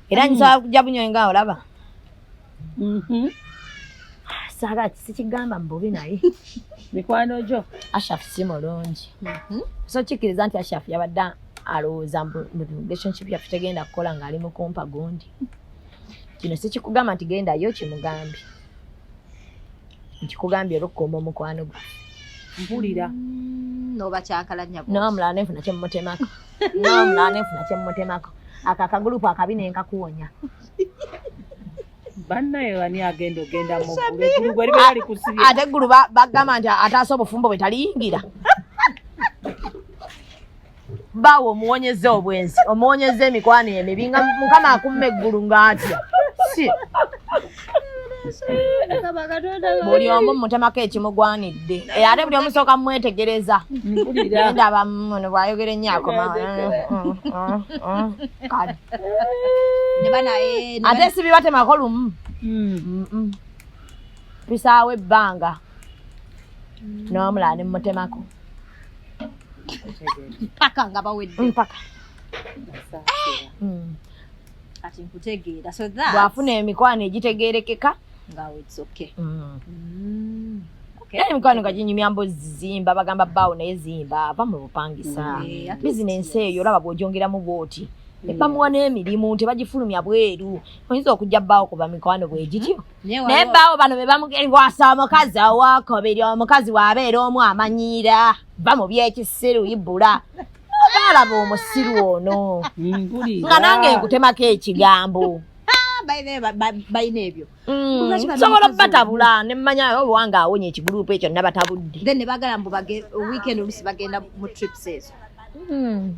era nyisobola mm-hmm. kujja bunyo nga olaba mm-hmm. saga sikigamba mububi naye mikwano gyo ashaf si mulungi so kikkiriza nti ashaf yabadde alowooza relationship yaffe tegenda kukola ng'ali mukumpa gundi kino sikikugamba nti gendayo kimugambi nkikugambye olwokukuuma omukwano gwe mpulira mm, nobakyakalannya nomulala nenfuna kyemumutemako nomulala nenfuna kyemumutemako ako akagulupu akabi nenkakuwonya bannaye ani agenda ogenda ate eggulu bagamba nti ataasa obufumbo bwe taliyingira baawe omuwonyeza obwenzi omuwonyeza emikwano emibi nga mukama akumma eggulu ngaatya si buli omu mutemako ekimugwanidde eh, ate buli omusooka mumwetegereza ndaba muno bwayogera ennyo akoma ate sibibatemako lumu tusaawo ebbanga n'omulala ne mutemako mpaka nga bawedde mpaka hmm. kati nkutegeera so that bwafuna emikwano egitegeerekeka nga it's okay mm. Mm. Okay. Yaani mkwano nga jinyumya mbo zimba bagamba bawo naye zimba ava mu bupangisa mm. business eyo olaba bwojongera mu bwoti mm. bamuwa n'emirimu tebagifulumya bweru oyinza okujja bbaawo kuba mikwano bwegityo mm. naye baawo bano be bamugeriwasa omukazi owokubiri omukazi waabeera omu amanyiira va mu byekisiru ibula baalaba omusiru ono nga nange nkutemako ekigambo balina ebyo mm. sobola batabula nemanya obwanga awonye ekigurupu ekyo nabatabudde then nebagala mbu weekend olusi bagenda mu trips ezo mm.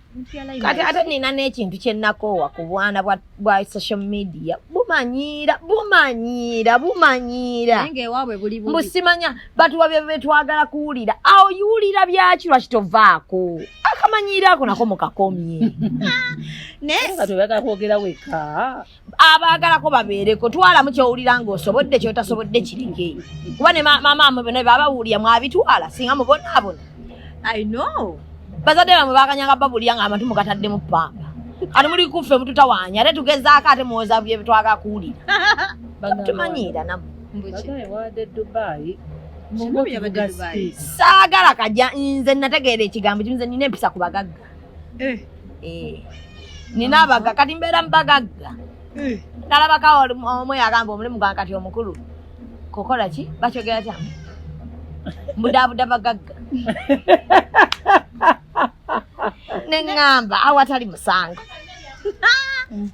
kati ate nina n'ekintu kyenakoowa ku bwana bwa social media bumanyiira bumanyiira bumanyiira mbusimanya batuwa byebetwagala kuwulira awo yiwulira byaki lwaki tovaako akamanyiira ako nako mukakomye naye nga toyagala kwogera weka abaagalako babeereko twalamu kyowulira ngaosobodde kyotasobodde kireke kuba ne maama amwe bona babawulira mwabitwala singa mubonaabona i know bazadde bamwe bakanyanga babulira nga amatu mugataddemu pamba kati muli kuffe mututawanya ate tugezaako ate muwoza byebitwaga kuwulira tumanyiira namu saagala kaja nze nategeera ekigambo kimu nze nina empisa ku bagagga eh. Eh. nina abaga kati mbeera mubagagga eh. nalabaka omu yagamba omulimu gwa kati omukulu kukola ki bakyogera kya mbudabuda bagagga neŋŋamba awatali musango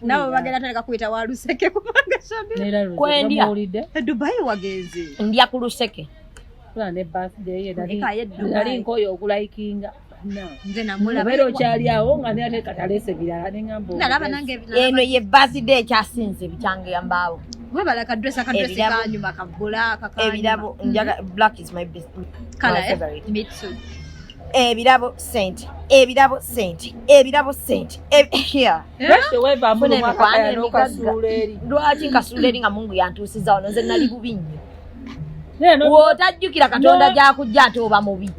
nawe bagenda tandika kuyita wa luseke kubanga kwendya dubai wagenze ndya ku luseke ali nkoyo okulayikinga nze namulabaera okyali awo nga nate katalese birala neambnalaba nange eno ye baside ekyasinze bikyange yambaawo webala kadresa kadresi kanyuma kagula kakebirabo njaga mm-hmm. black is my best kala eh? mitsu ebirabo sente ebirabo sente ebirabo sente eh? lwaki nkasuula eri nga mungu yantuusiza wano nze nali bubi nnyo wotajjukira katonda gyakujja ate oba mubi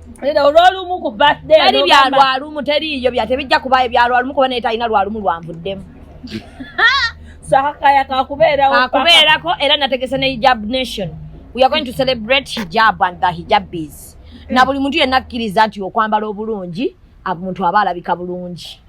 olwolumu ku birthdayteri byalwalumu teriiyo bya tebijja kubayo byalwalumu kuba naye talina lwalumu lwanvuddemu sakaya kakubeerako era nategese ne hijab nation we are going to celebrate hijab and the hijabis na buli muntu yenna akkiriza nti okwambala obulungi omuntu aba alabika bulungi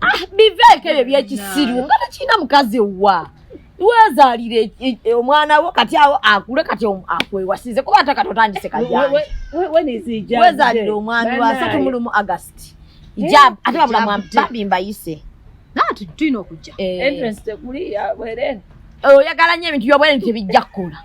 ah, biveeko ebyo byekisiru nga tekirina mukazi wa wezaalira e, e, e, omwana wo kati awo akule kati akwewasize kuba ate kati otandise kajawezaalira omwami wasatu mulumu agasti ijab ate babulamu babi mbayise Naatu tulina okujja. Eh. Entrance tekuli ya bwerere. Eh, oyagala nnyo ebintu byobwerere tebijja kukola.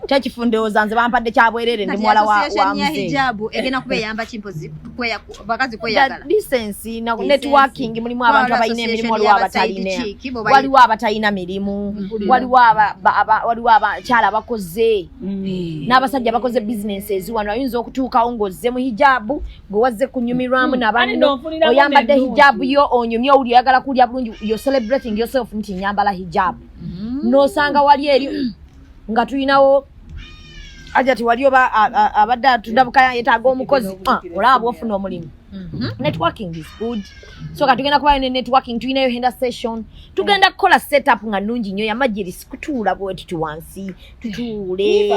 Kyekifundooza nze bampadde kya bwerere ndi muwala wa wa mzee. Hijabu egena kuba eyamba kimpozi kweya bakazi kweyagala. The decency na networking mulimu abantu abalina emirimu waliwo abatalina. Waliwo abatalina mirimu. Mm-hmm. Waliwo aba waliwo abakyala bakoze. Mm. N'abasajja bakoze businesses wano ayinza okutuukawo ng'ozze mu hijabu gwe wazze kunyumirwamu hmm. nabanno oyambadde hijabu yo onyumye owuli oyagala kuwulya bulungi yo celebrating yourself nti nyambala hijabu hmm. nosanga wali eri nga tulinawo ajati wali oba abadde atundabukaya yetaaga omukozi ah, olaba bwofuna omulimu hmm. networking is good so ka tugenda kubayo ne networking tulinayo henda session tugenda kukola setup nga nungi nnyo yamajirisi kutuula bwetiti wansi tutuule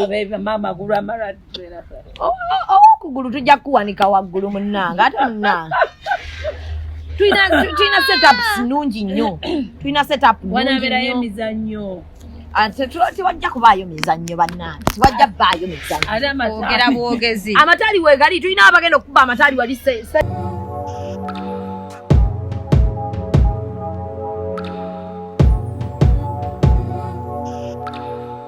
owokugulu tujja kukuwanika waggulu munnange ate munnange tulina setups nungi nnyo tulina setup wanabeerayo emizannyo tewajja kubaayo mizannyo bannange tewajja baayo mizannyogera bwogezi amataali wegali tulina abagenda okukuba amataali wali